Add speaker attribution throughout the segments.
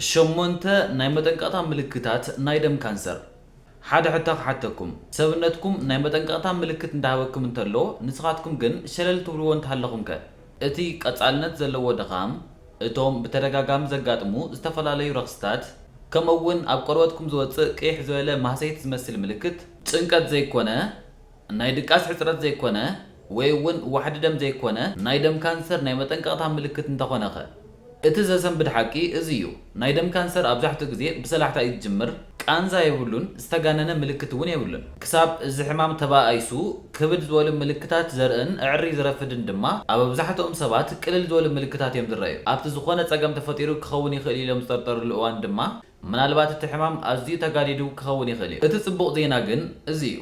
Speaker 1: ሸሞንተ ናይ መጠንቀቕታ ምልክታት ናይ ደም ካንሰር። ሓደ ሕቶ ክሓተኩም፣ ሰብነትኩም ናይ መጠንቀቕታ ምልክት እንዳሃበኩም እንተሎ ንስኻትኩም ግን ሸለል ትብልዎ እንተሃለኹምከ? እቲ ቀጻልነት ዘለዎ ድኻም፣ እቶም ብተደጋጋሚ ዘጋጥሙ ዝተፈላለዩ ረኽሲታት፣ ከምኡ'ውን ኣብ ቆርበትኩም ዝወጽእ ቅይሕ ዝበለ ማህሰይቲ ዝመስል ምልክት፣ ጭንቀት ዘይኮነ ናይ ድቃስ ሕጽረት ዘይኮነ ወይ'ውን ዋሕዲ ደም ዘይኮነ ናይ ደም ካንሰር ናይ መጠንቀቕታ ምልክት እንተኾነኸ? እቲ ዘሰንብድ ሓቂ እዚ'ዩ፣ ናይ ደም ካንሰር ኣብዛሕትኡ ግዜ ብሰላሕታ እዩ ዝጅምር፣ ቃንዛ የብሉን፣ ዝተጋነነ ምልክት'ውን የብሉን። ክሳብ እዚ ሕማም ተባኣኢሱ ክብድ ዝበሉ ምልክታት ዘርእን እዕሪ ዝረፍድን ድማ ኣብ ኣብዛሕትኦም ሰባት ቅልል ዝበሉ ምልክታት እዮም ዝረኣዩ። ኣብቲ ዝኾነ ጸገም ተፈጢሩ ክኸውን ይኽእል ኢሎም ዝጠርጠርሉ እዋን ድማ ምናልባት እቲ ሕማም ኣዝዩ ተጋዲዱ ክኸውን ይኽእል እዩ። እቲ ጽቡቕ ዜና ግን እዚ እዩ፣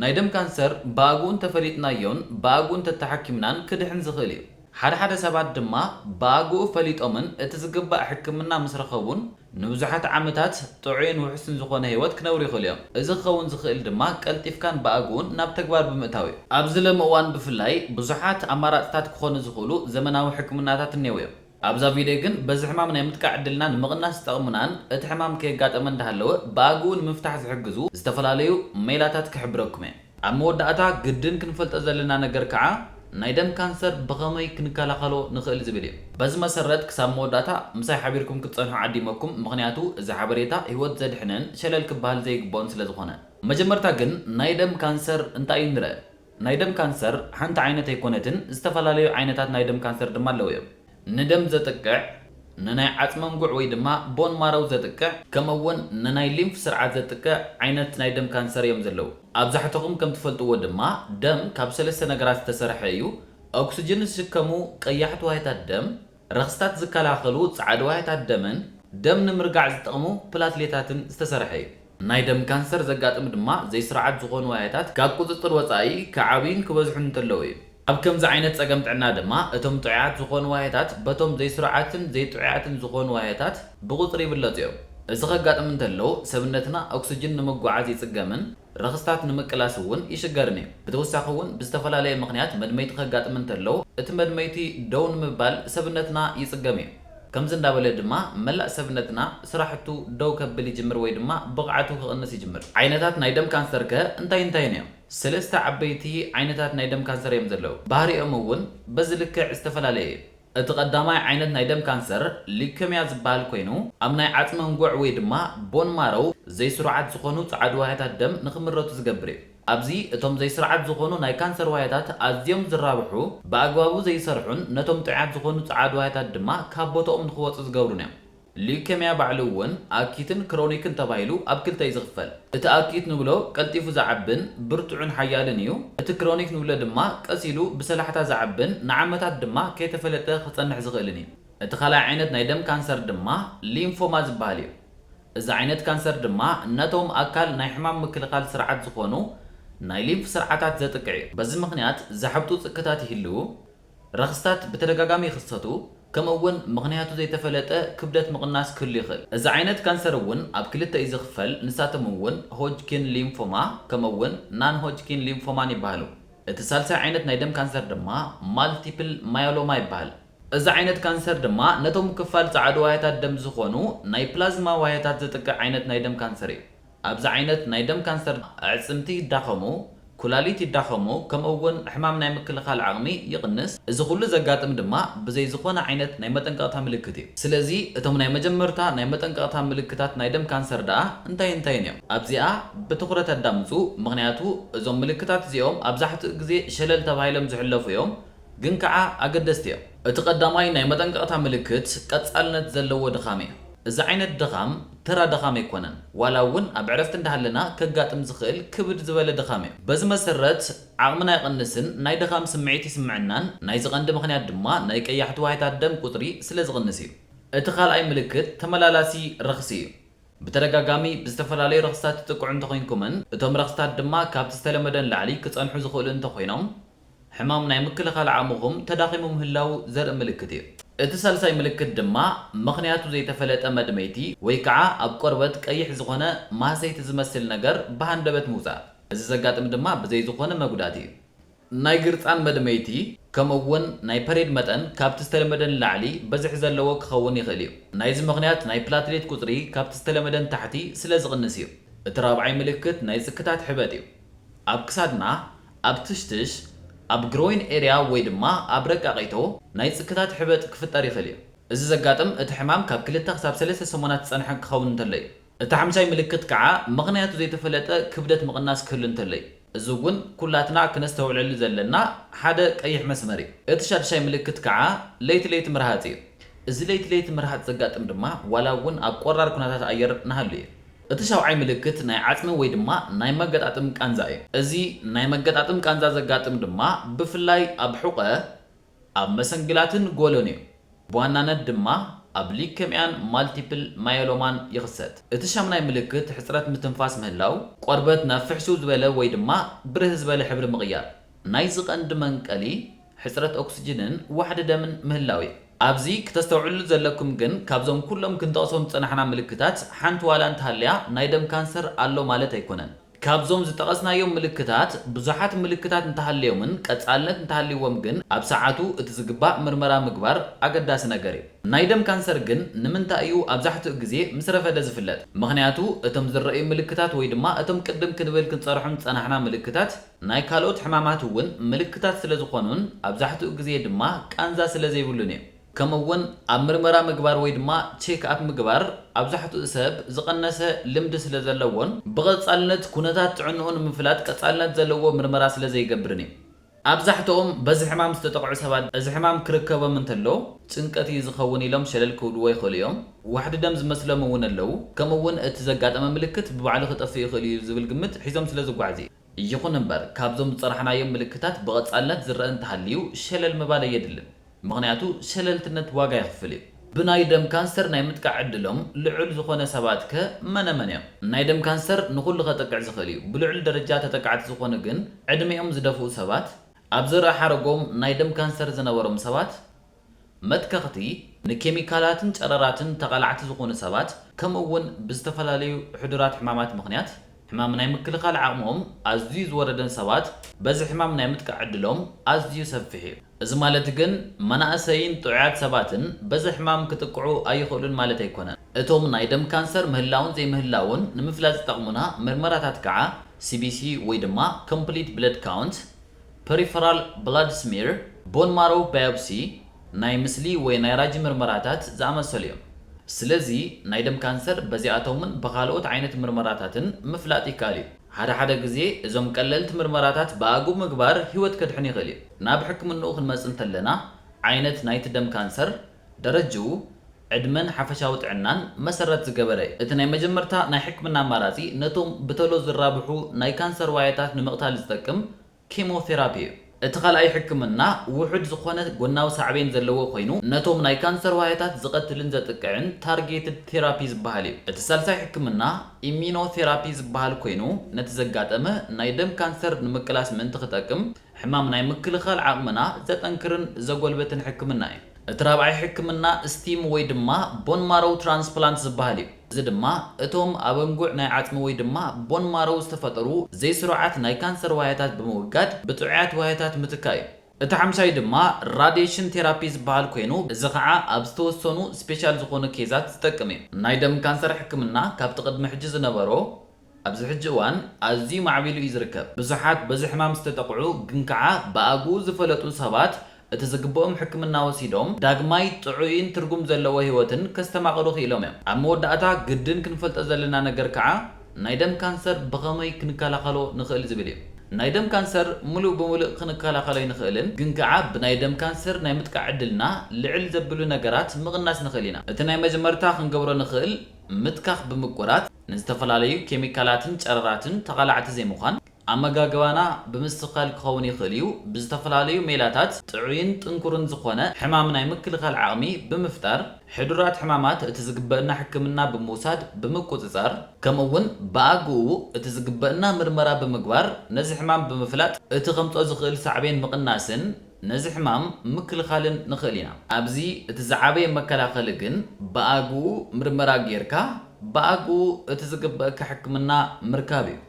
Speaker 1: ናይ ደም ካንሰር ብኣግኡ እንተፈሊጥናዮን ብኣግኡ እንተተሓኪምናን ክድሕን ዝኽእል እዩ። ሓደ ሓደ ሰባት ድማ ብኣግኡ ፈሊጦምን እቲ ዝግባእ ሕክምና ምስ ረኸቡን ንብዙሓት ዓመታት ጥዑይን ውሑስን ዝኾነ ህይወት ክነብሩ ይኽእሉ እዮም። እዚ ክኸውን ዝኽእል ድማ ቀልጢፍካን ብኣግኡን ናብ ተግባር ብምእታው እዩ። ኣብዚ ሎሚ እዋን ብፍላይ ብዙሓት ኣማራጽታት ክኾኑ ዝኽእሉ ዘመናዊ ሕክምናታት እኔዉ እዮም። ኣብዛ ቪድዮ ግን በዚ ሕማም ናይ ምጥቃዕ ዕድልና ንምቕናስ ዝጠቕሙናን እቲ ሕማም ከየጋጠመ እንዳሃለወ ብኣግኡ ንምፍታሕ ዝሕግዙ ዝተፈላለዩ ሜላታት ክሕብረኩም እየ። ኣብ መወዳእታ ግድን ክንፈልጦ ዘለና ነገር ከዓ ናይ ደም ካንሰር ብኸመይ ክንከላኸሎ ንኽእል ዝብል እዩ። በዚ መሰረት ክሳብ መወዳእታ ምሳይ ሓቢርኩም ክትፀንሑ ዓዲመኩም ምኽንያቱ እዚ ሓበሬታ ህይወት ዘድሕንን ሸለል ክበሃል ዘይግበኦን ስለዝኾነ። መጀመርታ ግን ናይ ደም ካንሰር እንታይ እዩ ንርእ። ናይ ደም ካንሰር ሓንቲ ዓይነት ኣይኮነትን፣ ዝተፈላለዩ ዓይነታት ናይ ደም ካንሰር ድማ ኣለዉ እዮም። ንደም ዘጥቅዕ፣ ንናይ ዓጽመም ጉዕ ወይ ድማ ቦን ማሮው ዘጥቅዕ፣ ከምኡ እውን ንናይ ሊምፍ ስርዓት ዘጥቅዕ ዓይነት ናይ ደም ካንሰር እዮም ዘለዉ። ኣብዛሕተኹም ከም ትፈልጥዎ ድማ ደም ካብ ሰለስተ ነገራት ዝተሰርሐ እዩ፣ ኦክስጅን ዝስከሙ ቀያሕቲ ዋህዮታት ደም፣ ረኽስታት ዝከላኸሉ ጻዕዳዋህታት ደምን ደም ንምርጋዕ ዝጠቕሙ ፕላትሌታትን ዝተሰርሐ እዩ። ናይ ደም ካንሰር ዘጋጥም ድማ ዘይስርዓት ዝኾኑ ዋህታት ካብ ቁጽጽር ወጻኢ ክዓብዩን ክበዝሑን እንተለዉ እዩ። ኣብ ከምዚ ዓይነት ጸገም ጥዕና ድማ እቶም ጥዑያት ዝኾኑ ዋህታት በቶም ዘይስሩዓትን ዘይጥዑያትን ዝኾኑ ዋህታት ብቑጽሪ ይብለጹ እዮም። እዚ ከጋጥም እንተሎ ሰብነትና ኦክስጅን ንምጉዓዝ ይጽገምን ረኽስታት ንምቅላስ እውን ይሽገርን እዩ። ብተወሳኺ እውን ብዝተፈላለየ ምኽንያት መድመይቲ ከጋጥም እንተሎ እቲ መድመይቲ ደው ንምባል ሰብነትና ይፅገም እዩ። ከምዚ እንዳበለ ድማ መላእ ሰብነትና ስራሕቱ ደው ከብል ይጅምር ወይ ድማ ብቕዓቱ ክቕንስ ይጅምር። ዓይነታት ናይ ደም ካንሰር ከ እንታይ እንታይን እዮም? ሰለስተ ዓበይቲ ዓይነታት ናይ ደም ካንሰር እዮም ዘለዉ። ባህሪኦም እውን በዚ ልክዕ ዝተፈላለየ እዩ። እቲ ቀዳማይ ዓይነት ናይ ደም ካንሰር ሊዩከምያ ዝበሃል ኮይኑ፣ ኣብ ናይ ዓጽሚ ኣንጉዕ ወይ ድማ ቦን ማሮው ዘይስሩዓት ዝኾኑ ጸዓዱ ዋህያታት ደም ንኽምረቱ ዝገብር እዩ። ኣብዚ እቶም ዘይስርዓት ዝኾኑ ናይ ካንሰር ዋህያታት ኣዝዮም ዝራብሑ፣ ብኣግባቡ ዘይሰርሑን ነቶም ጥዑያት ዝኾኑ ጸዓዱ ዋህያታት ድማ ካብ ቦታኦም ንኽወጹ ዝገብሩን እዮም። ሊዩከምያ ባዕሉ እውን ኣኪትን ክሮኒክን ተባሂሉ ኣብ ክልተ እዩ ዝኽፈል። እቲ ኣኪት ንብሎ ቀልጢፉ ዝዓብን ብርቱዕን ሓያልን እዩ። እቲ ክሮኒክ ንብሎ ድማ ቀስ ኢሉ ብሰላሕታ ዝዓብን ንዓመታት ድማ ከይተፈለጠ ክጸንሕ ዝኽእልን እዩ። እቲ ካልኣይ ዓይነት ናይ ደም ካንሰር ድማ ሊምፎማ ዝበሃል እዩ። እዚ ዓይነት ካንሰር ድማ ነቶም ኣካል ናይ ሕማም ምክልኻል ስርዓት ዝኾኑ ናይ ሊምፍ ስርዓታት ዘጥቅዕ እዩ። በዚ ምኽንያት ዘሐብጡ ጽክታት ይህልዉ። ረኽስታት ብተደጋጋሚ ይኽሰቱ፣ ከምኡ'ውን ምኽንያቱ ዘይተፈለጠ ክብደት ምቕናስ ክህሉ ይኽእል። እዚ ዓይነት ካንሰር እውን ኣብ ክልተ እዩ ዝኽፈል፣ ንሳቶም እውን ሆጅኪን ሊምፎማ ከምኡ'ውን ናን-ሆጅኪን ሊምፎማን ይበሃሉ። እቲ ሳልሳይ ዓይነት ናይ ደም ካንሰር ድማ ማልቲፕል ማዮሎማ ይበሃል። እዚ ዓይነት ካንሰር ድማ ነቶም ክፋል ጸዓዱ ዋህያታት ደም ዝኾኑ ናይ ፕላዝማ ዋህያታት ዘጥቅዕ ዓይነት ናይ ደም ካንሰር እዩ። ኣብዚ ዓይነት ናይ ደም ካንሰር ኣዕጽምቲ ይዳኸሙ፣ ኩላሊት ይዳኸሙ ከምኡ እውን ሕማም ናይ ምክልኻል ዓቕሚ ይቕንስ። እዚ ኩሉ ዘጋጥም ድማ ብዘይ ዝኾነ ዓይነት ናይ መጠንቀቕታ ምልክት እዩ። ስለዚ እቶም ናይ መጀመርታ ናይ መጠንቀቕታ ምልክታት ናይ ደም ካንሰር ደኣ እንታይን እንታይን እዮም? ኣብዚኣ ብትኹረት ኣዳምጹ ምኽንያቱ እዞም ምልክታት እዚኦም ኣብዛሕትኡ ግዜ ሸለል ተባሂሎም ዝሕለፉ እዮም ግን ከኣ ኣገደስቲ እዮም። እቲ ቀዳማይ ናይ መጠንቀቕታ ምልክት ቀጻልነት ዘለዎ ድኻም እዩ። እዚ ዓይነት ድኻም ተራ ድኻም ኣይኮነን፣ ዋላ እውን ኣብ ዕረፍቲ እንዳሃለና ከጋጥም ዝኽእል ክብድ ዝበለ ድኻም እዩ። በዚ መሰረት ዓቕምና ይቕንስን ናይ ድኻም ስምዒት ይስምዐናን፣ ናይዚ ቀንዲ ምኽንያት ድማ ናይ ቀያሕቲ ዋህዮታት ደም ቁፅሪ ስለዝቕንስ እዩ። እቲ ካልኣይ ምልክት ተመላላሲ ረኽሲ እዩ። ብተደጋጋሚ ብዝተፈላለዩ ረኽስታት ትጥቅዑ እንተኾይንኩምን እቶም ረኽስታት ድማ ካብቲ ዝተለመደ ንላዕሊ ክፀንሑ ዝኽእሉ እንተኾይኖም፣ ሕማም ናይ ምክልኻል ዓቕምኹም ተዳኺሙ ምህላዉ ዘርኢ ምልክት እዩ። እቲ ሳልሳይ ምልክት ድማ ምኽንያቱ ዘይተፈለጠ መድመይቲ ወይ ከዓ ኣብ ቆርበት ቀይሕ ዝኾነ ማህሰይቲ ዝመስል ነገር ብሃንደበት ምውፃእ። እዚ ዘጋጥም ድማ ብዘይ ዝኾነ መጉዳእቲ እዩ። ናይ ግርፃን መድመይቲ ከምኡ እውን ናይ ፐሬድ መጠን ካብቲ ዝተለመደ ንላዕሊ በዝሒ ዘለዎ ክኸውን ይኽእል እዩ። ናይዚ ምኽንያት ናይ ፕላትሌት ቁፅሪ ካብቲ ዝተለመደ ንታሕቲ ስለዝቕንስ እዩ። እቲ ራብዓይ ምልክት ናይ ፅክታት ሕበጥ እዩ። ኣብ ክሳድና፣ ኣብ ትሽትሽ፣ ኣብ ግሮይን ኤርያ ወይ ድማ ኣብ ረቃቂቶ ናይ ጽክታት ሕበጥ ክፍጠር ይኽእል እዩ። እዚ ዘጋጥም እቲ ሕማም ካብ ክልተ ክሳብ ሰለስተ ሰሙናት ዝጸንሐ ክኸውን እንተሎ እዩ። እቲ ሓምሻይ ምልክት ከኣ ምኽንያቱ ዘይተፈለጠ ክብደት ምቕናስ ክህሉ እንተሎ እዩ። እዚ እውን ኩላትና ክነስተውዕለሉ ዘለና ሓደ ቀይሕ መስመር እዩ። እቲ ሻድሻይ ምልክት ከኣ ለይቲ ለይቲ ምርሃጽ እዩ። እዚ ለይቲ ለይቲ ምርሃጽ ዘጋጥም ድማ ዋላ እውን ኣብ ቆራር ኩነታት ኣየር ንሃሉ እዩ። እቲ ሻውዓይ ምልክት ናይ ዓጽሚ ወይ ድማ ናይ መገጣጥም ቃንዛ እዩ። እዚ ናይ መገጣጥም ቃንዛ ዘጋጥም ድማ ብፍላይ ኣብ ሑቐ፣ ኣብ መሰንግላትን ጎሎን እዩ። ብዋናነት ድማ ኣብ ሊከምያን ማልቲፕል ማዮሎማን ይኽሰት። እቲ ሻምናይ ምልክት ሕጽረት ምትንፋስ ምህላው፣ ቆርበት ናብ ፍሕሱው ዝበለ ወይ ድማ ብርህ ዝበለ ሕብሪ ምቕያር። ናይዚ ቀንዲ መንቀሊ ሕጽረት ኦክስጅንን ዋሕዲ ደምን ምህላው እዩ። ኣብዚ ክተስተውዕልሉ ዘለኩም ግን ካብዞም ኩሎም ክንጠቕሶም ዝጸናሕና ምልክታት ሓንቲ ዋላ እንተሃልያ ናይ ደም ካንሰር ኣሎ ማለት ኣይኮነን። ካብዞም ዝጠቐስናዮም ምልክታት ብዙሓት ምልክታት እንተሃልዮምን ቀጻልነት እንተሃልይዎም ግን ኣብ ሰዓቱ እቲ ዝግባእ ምርመራ ምግባር ኣገዳሲ ነገር እዩ። ናይ ደም ካንሰር ግን ንምንታይ እዩ ኣብዛሕትኡ ግዜ ምስ ረፈደ ዝፍለጥ? ምኽንያቱ እቶም ዝረኣዩ ምልክታት ወይ ድማ እቶም ቅድም ክንብል ክንጸርሖም ዝጸናሕና ምልክታት፣ ናይ ካልኦት ሕማማት እውን ምልክታት ስለ ዝኾኑን ኣብዛሕትኡ ግዜ ድማ ቃንዛ ስለ ዘይብሉን እዩ። ከምኡ እውን ኣብ ምርመራ ምግባር ወይ ድማ ቼክ ኣፕ ምግባር ኣብዛሕትኡ ሰብ ዝቐነሰ ልምዲ ስለ ዘለዎን ብቐጻልነት ኩነታት ጥዕንኡ ንምፍላጥ ቀጻልነት ዘለዎ ምርመራ ስለ ዘይገብርን እዩ። ኣብዛሕትኦም በዚ ሕማም ዝተጠቕዑ ሰባት እዚ ሕማም ክርከቦም እንተሎ ጭንቀት እዩ ዝኸውን ኢሎም ሸለል ክብልዎ ይኽእሉ እዮም። ዋሕዲ ደም ዝመስሎም እውን ኣለዉ፣ ከምኡ እውን እቲ ዘጋጠመ ምልክት ብባዕሉ ክጠፍእ ይኽእል እዩ ዝብል ግምት ሒዞም ስለ ዝጓዓዙ እዩ። ይኹን እምበር፣ ካብዞም ዝጸናሕናዮም ምልክታት ብቐጻልነት ዝረኣ እንተሃልዩ ሸለል ምባል ኣየድልን። ምኽንያቱ ሸለልትነት ዋጋ የኽፍል እዩ። ብናይ ደም ካንሰር ናይ ምጥቃዕ ዕድሎም ልዑል ዝኾነ ሰባትከ መነመን እዮም? ናይ ደም ካንሰር ንኹሉ ከጥቅዕ ዝኽእል እዩ። ብልዑል ደረጃ ተጠቃዕቲ ዝኾኑ ግን ዕድሜኦም ዝደፍኡ ሰባት፣ ኣብ ዘርኢ ሓረጎም ናይ ደም ካንሰር ዝነበሮም ሰባት፣ መትከኽቲ ንኬሚካላትን ጨረራትን ተቓላዕቲ ዝኾኑ ሰባት ከምኡ እውን ብዝተፈላለዩ ሕዱራት ሕማማት ምኽንያት ሕማም ናይ ምክልኻል ዓቕምኦም ኣዝዩ ዝወረደን ሰባት በዚ ሕማም ናይ ምጥቃዕ ዕድሎም ኣዝዩ ሰፊሕ እዩ። እዚ ማለት ግን መናእሰይን ጥዑያት ሰባትን በዚ ሕማም ክጥቅዑ ኣይኽእሉን ማለት ኣይኮነን። እቶም ናይ ደም ካንሰር ምህላውን ዘይምህላውን ንምፍላጥ ዝጠቕሙና ምርመራታት ከዓ ሲቢሲ ወይ ድማ ኮምፕሊት ብለድ ካውንት፣ ፐሪፈራል ብላድ ስሚር፣ ቦን ማሮው ባዮፕሲ፣ ናይ ምስሊ ወይ ናይ ራጂ ምርመራታት ዝኣመሰሉ እዮም። ስለዚ ናይ ደም ካንሰር በዚኣቶምን ብኻልኦት ዓይነት ምርመራታትን ምፍላጥ ይከኣል እዩ። ሓደ ሓደ ግዜ እዞም ቀለልቲ ምርመራታት ብኣግኡ ምግባር ህይወት ከድሕን ይኽእል እዩ። ናብ ሕክምንኡ ክንመጽእ እንተለና ዓይነት ናይቲ ደም ካንሰር፣ ደረጅኡ ዕድመን ሓፈሻዊ ጥዕናን መሰረት ዝገበረ እቲ ናይ መጀመርታ ናይ ሕክምና ኣማራጺ ነቶም ብተሎ ዝራብሑ ናይ ካንሰር ዋየታት ንምቕታል ዝጠቅም ኬሞቴራፒ እዩ። እቲ ካልኣይ ሕክምና ውሑድ ዝኾነ ጎናዊ ሳዕቤን ዘለዎ ኮይኑ ነቶም ናይ ካንሰር ዋየታት ዝቐትልን ዘጥቅዕን ታርጌትድ ቴራፒ ዝበሃል እዩ። እቲ ሳልሳይ ሕክምና ኢሚኖቴራፒ ዝበሃል ኮይኑ ነቲ ዘጋጠመ ናይ ደም ካንሰር ንምቅላስ ምእንቲ ክጠቅም ሕማም ናይ ምክልኻል ዓቕምና ዘጠንክርን ዘጎልብትን ሕክምና እዩ። እቲ ራብዓይ ሕክምና ስቲም ወይ ድማ ቦን ማሮው ትራንስፕላንት ዝበሃል እዩ። እዚ ድማ እቶም ኣብ ኣንጉዕ ናይ ዓጽሚ ወይ ድማ ቦን ማሮው ዝተፈጠሩ ዘይስሩዓት ናይ ካንሰር ዋህያታት ብምውጋድ ብጥዑያት ዋህያታት ምትካእ እዩ። እቲ ሓምሻይ ድማ ራድየሽን ቴራፒ ዝበሃል ኮይኑ እዚ ከዓ ኣብ ዝተወሰኑ ስፔሻል ዝኾኑ ኬዛት ዝጠቅም እዩ። ናይ ደም ካንሰር ሕክምና ካብቲ ቅድሚ ሕጂ ዝነበሮ ኣብዚ ሕጂ እዋን ኣዝዩ ማዕቢሉ እዩ ዝርከብ። ብዙሓት በዚ ሕማም ዝተጠቕዑ ግን ከኣ ብኣግኡ ዝፈለጡ ሰባት እቲ ዝግብኦም ሕክምና ወሲዶም ዳግማይ ጥዑይን ትርጉም ዘለዎ ህይወትን ከስተማቕሩ ክኢሎም እዮም። ኣብ መወዳእታ ግድን ክንፈልጦ ዘለና ነገር ከኣ ናይ ደም ካንሰር ብኸመይ ክንከላኸሎ ንኽእል ዝብል እዩ። ናይ ደም ካንሰር ምሉእ ብምሉእ ክንከላኸሎ ኣይንኽእልን ግን ከኣ ብናይ ደም ካንሰር ናይ ምጥቃዕ ዕድልና ልዕል ዘብሉ ነገራት ምቕናስ ንኽእል ኢና። እቲ ናይ መጀመርታ ክንገብሮ ንኽእል ምትካኽ ብምቁራጽ፣ ንዝተፈላለዩ ኬሚካላትን ጨረራትን ተቓላዕቲ ዘይምዃን። ኣመጋግባና ብምስትኽኻል ክኸውን ይኽእል እዩ፣ ብዝተፈላለዩ ሜላታት ጥዑይን ጥንኩርን ዝኾነ ሕማም ናይ ምክልኻል ዓቕሚ ብምፍጣር፣ ሕዱራት ሕማማት እቲ ዝግበእና ሕክምና ብምውሳድ ብምቁጽጻር፣ ከምኡ ውን ብኣግኡ እቲ ዝግበእና ምርመራ ብምግባር ነዚ ሕማም ብምፍላጥ እቲ ከምጽኦ ዝኽእል ሳዕቤን ምቕናስን ነዚ ሕማም ምክልኻልን ንኽእል ኢና። ኣብዚ እቲ ዝዓበየ መከላኸሊ ግን ብኣግኡ ምርመራ ጌርካ ብኣግኡ እቲ ዝግበእካ ሕክምና ምርካብ እዩ።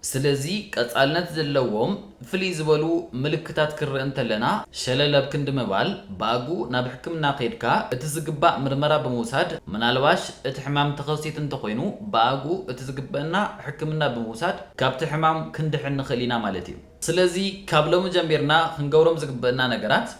Speaker 1: ስለዚ ቀጻልነት ዘለዎም ፍልይ ዝበሉ ምልክታት ክንርኢ እንተለና ሸለል ኣብ ክንዲ ምባል ብኣግኡ ናብ ሕክምና ከይድካ እቲ ዝግባእ ምርመራ ብምውሳድ ምናልባሽ እቲ ሕማም ተኸሲቱ እንተኾይኑ ብኣግኡ እቲ ዝግበእና ሕክምና ብምውሳድ ካብቲ ሕማም ክንድሕን ንኽእል ኢና ማለት እዩ። ስለዚ ካብ ሎሚ ጀሚርና ክንገብሮም ዝግበእና ነገራት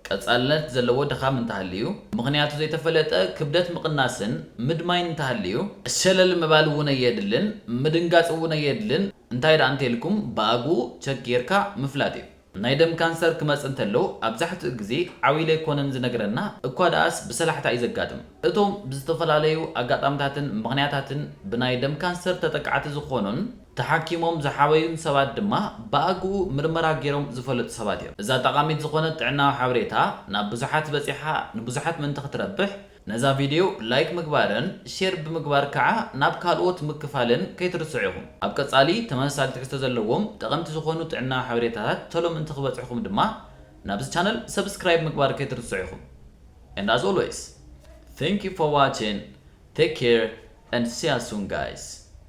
Speaker 1: ቀጻልነት ዘለዎ ድኻም እንተሃልዩ፣ ምኽንያቱ ዘይተፈለጠ ክብደት ምቕናስን ምድማይን እንተሃልዩ፣ ሸለል ምባል እውን ኣየድልን፣ ምድንጋጽ እውን ኣየድልን፣ እንታይ ደኣ እንተኢልኩም ብኣግኡ ቸክ ጌርካ ምፍላጥ እዩ። ናይ ደም ካንሰር ክመጽእ እንተሎ ኣብዛሕትኡ ግዜ ዓው ኢሉ ኣይኮነን ዝነግረና፣ እኳ ደኣስ ብሰላሕታ እዩ ዘጋጥም። እቶም ብዝተፈላለዩ ኣጋጣምታትን ምኽንያታትን ብናይ ደም ካንሰር ተጠቃዕቲ ዝኾኑን፣ ተሓኪሞም ዝሓወዩን ሰባት ድማ ብኣግኡ ምርመራ ገይሮም ዝፈለጡ ሰባት እዮም። እዛ ጠቓሚት ዝኾነት ጥዕናዊ ሓበሬታ ናብ ብዙሓት በጺሓ ንብዙሓት ምእንቲ ክትረብሕ ነዛ ቪድዮ ላይክ ምግባርን ሼር ብምግባር ከኣ ናብ ካልኦት ምክፋልን ከይትርስዑ ኢኹም። ኣብ ቀጻሊ ተመሳሳሊ ትሕዝቶ ዘለዎም ጠቐምቲ ዝኾኑ ጥዕናዊ ሓበሬታታት ቶሎ ምእንቲ ክበጽሕኹም ድማ ናብዚ ቻነል ሰብስክራይብ ምግባር ከይትርስዑ ኢኹም። And as always Thank you for watching Take care and see us soon guys!